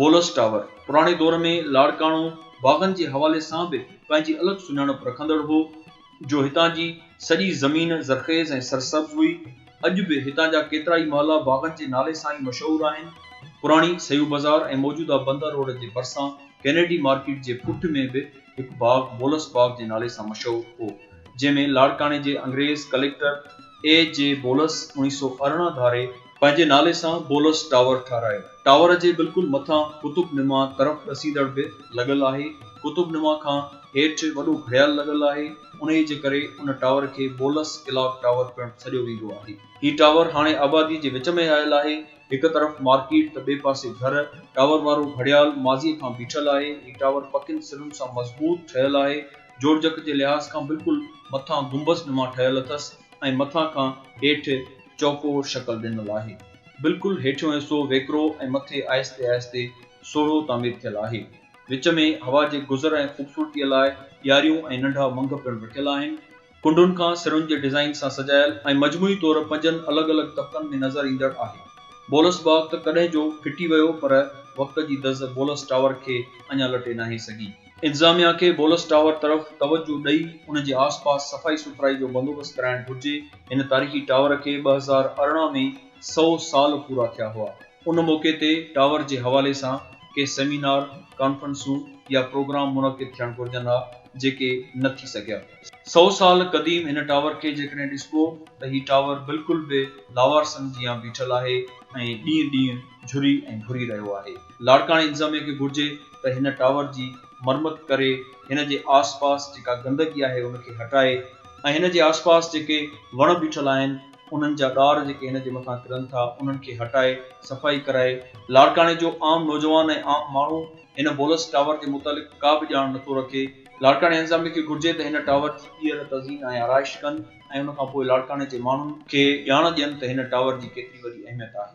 بولس tower, پراڻي دور ۾ لاڙڪاڻو باغن جي حوالي سان به پنهنجي الڳ سڃاڻپ رکندڙ هو، جو هتان جي سڄي زمين زرخيز ۽ سرسبز هئي. اڄ به هتان جا ڪيترائي محلا باغن جي نالي سان ئي مشهور آهن. پراڻي سيو بازار ۽ موجوده بندر روڊ جي ڀرسان ڪينيڊي مارڪيٽ جي پٺ ۾ به هڪ باغ بولس باغ جي نالي سان مشهور هو، جنهن ۾ لاڙڪاڻي جي انگريز ڪليڪٽر اي جي بولس اوڻيهه سؤ ارڙهن ڌاري پنهنجي نالي سان بولس ٽاور ٺاهرايو. ٽاور جي بلڪل مٿان قطب نما طرف ڏسيندڙ به لڳل آهي. قطب نما کان هيٺ وڏو گهڙيال لڳل آهي. انهيء جي ڪري ان ٽاور کي بولس ڪلاڪ ٽاور پڻ سڏيو ويندو آهي. هي ٽاور هاڻي آباديء جي وچ ۾ آيل آهي. هڪ طرف مارڪيٽ ته ٻئي پاسي گهر. ٽاور وارو گهڙيال ماضيء کان بيٺل آهي. هي ٽاور پڪين سرن سان مضبوط ٺهيل آهي. جوڙجڪ جي لحاظ کان بلڪل مٿان گنبذ نما ٺهيل اٿس ۽ مٿان کان هيٺ چوڪور شڪل ڏنل آهي. بلڪل هيٺيون حصو ويڪرو ۽ مٿي آهستي آهستي سوڙهو تعمير ٿيل آهي. وچ ۾ هوا جي گذر ۽ خوبصورتيء لاء ڏياريون ۽ ننڍا منگهه پڻ رکيل آهن. ڪنڊن کان سرن جي ڊزائين سان سجايل ۽ مجموعي طور پنجن الڳ الڳ طبقن ۾ نظر ايندڙ آهي. بولس باغ ته ڪڏهن جو ڦٽي ويو پر وقت جي دز بولس ٽاور کي اڃا لٽي ناهي سگهي. انتظاميا کي بولس ٽاور طرف توجهه ڏئي ان جي آس پاس صفائي سٿرائي جو بندوبست ڪرائڻ گهرجي، هن تاريخي ٽاور کي ٻه هزار ارڙهن ۾ سؤ سال پورا ٿيا هئا، ان موقعي تي ٽاور جي حوالي سان ڪي سيمينار، ڪانفرنسون يا پروگرام منعقد ٿيڻ گهرجن ها جيڪي نه ٿي سگهيا. سؤ سال قديم هن ٽاور کي جيڪڏهن ڏسبو ته هي ٽاور بلڪل به لاوارثن جيان بيٺل آهي ۽ ڏينهن ڏينهن جهري ۽ گهري رهيو آهي. لاڙڪاڻي انتظاميه کي گهرجي ته هن ٽاور جي مرمت ڪري هن جي آس پاس جيڪا گندگي آهي ان کي هٽائي ۽ هن جي آس پاس جيڪي وڻ بيٺل آهن انهن جا ڏار جيڪي هن جي مٿان ڪرن ٿا انهن کي هٽائي صفائي ڪرائي لاڙڪاڻي جو عام نوجوان ۽ عام ماڻهو هن بولس ٽاور جي متعلق ڪا به ڄاڻ نٿو رکي لاڙڪاڻي انتظاميه کي گهرجي ته هن ٽاور جي ٻيهر تزئين ۽ آرائش ڪن ۽ ان کان پوء لاڙڪاڻي جي ماڻهن کي ڄاڻ ڏين ته هن ٽاور جي ڪيتري وڏي اهميت آهي.